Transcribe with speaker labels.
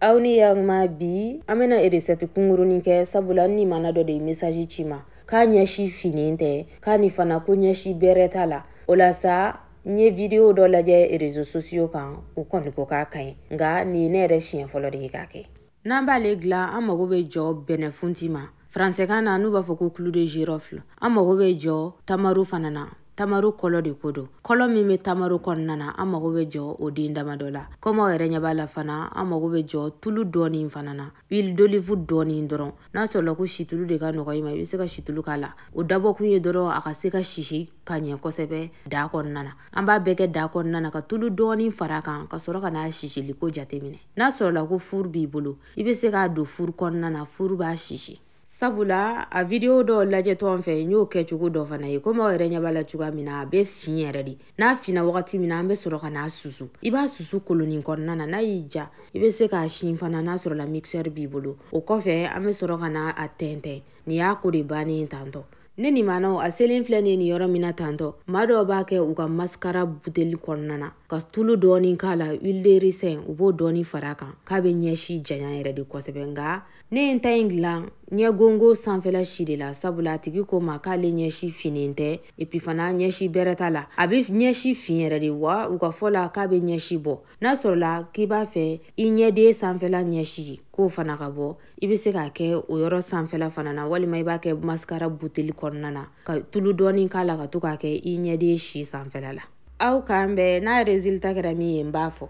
Speaker 1: aw ni yaguma bi an bena eresɛti kungurunin kɛ sabula n nimana dɔ de ye mesaji ci n ma k'a ɲɛsi finin tɛ k'ani fana ko ɲɛsi bɛrɛ t'a la o la sa n ye vidiyo dɔ lajɛ rezo sosiyo kan u kɔni ko k'a ka ɲi nka nin ye ne yɛrɛ siɲɛ fɔlɔ de ye k'a kɛ n'an b'ale dilan an mago bɛ jɔ bɛnɛfunti ma faransɛkan na n'u b'a fɔ ko clou de girofle an mago bɛ jɔ tamaro fana na tamaro kɔlɔ de ko don kɔlɔ min bɛ tamaro kɔnɔna na an mago bɛ jɔ o den dama dɔ la komi aw yɛrɛ ɲɛ b'a la fana an mago bɛ jɔ tulu dɔɔni fana na huile d'olive dɔɔni dɔrɔn n'a sɔrɔla ko situlu de ka nɔgɔ i ma i bɛ se ka situlu k'a la o dabɔkun ye dɔrɔn a ka se ka sisi ka ɲɛ kosɛbɛ da kɔnɔna na an b'a bɛɛ kɛ da kɔnɔna na ka tulu dɔɔni fara a kan ka sɔrɔ ka n'a sisili ko jateminɛ n'a sɔrɔla ko furu b'i bolo i bɛ se k'a don furu kɔnɔna na furu b'a sisi sabula a video dɔ lajɛtɔ an fɛ n y'o kɛcogo dɔ fana ye komi aw yɛrɛ ɲɛ b'a la cogoya min na a bɛ fin yɛrɛ de n'a finna wagati min na an bɛ sɔrɔ ka n'a susu i b'a susu kolonin kɔnɔna na n'a y'i ja i bɛ se k'a si fana n'a sɔrɔla mixeur b'i bolo o kɔfɛ an bɛ sɔrɔ ka n'a tɛntɛn nin y'a ko de bannen tantɔ ne nimanaw a selen filɛ nin yɔrɔ min na tantɔ maa dɔw b'a kɛ u ka maskara buteli kɔnɔna na ka tulu dɔɔni k'a la huile de ricin u b'o dɔɔni fara a kan k'a bɛ ɲɛsi janya yɛrɛ de kosɛbɛ nka ne ye n ta in dilan ɲɛgongo sanfɛla si de la sabula a tigi ko n ma k'ale ɲɛsi finnen tɛ epi fana ɲɛsi bɛrɛ t'a la a be ɲɛsi fin yɛrɛ de wa u ka fɔ la k'a be ɲɛsi bɔ n'a sɔrɔla k'i b'a fɛ i ɲɛden sanfɛla ɲɛsi k'o fana ka bɔ i be se k'a kɛ o yɔrɔ sanfɛla fana na walima i b'a kɛ maskara buteli kɔnɔna na ka tulu dɔɔni k'a la ka to k'a kɛ i ɲɛden si sanfɛla la aw k'an bɛn n'a résultat kɛra min ye n b'a fɔ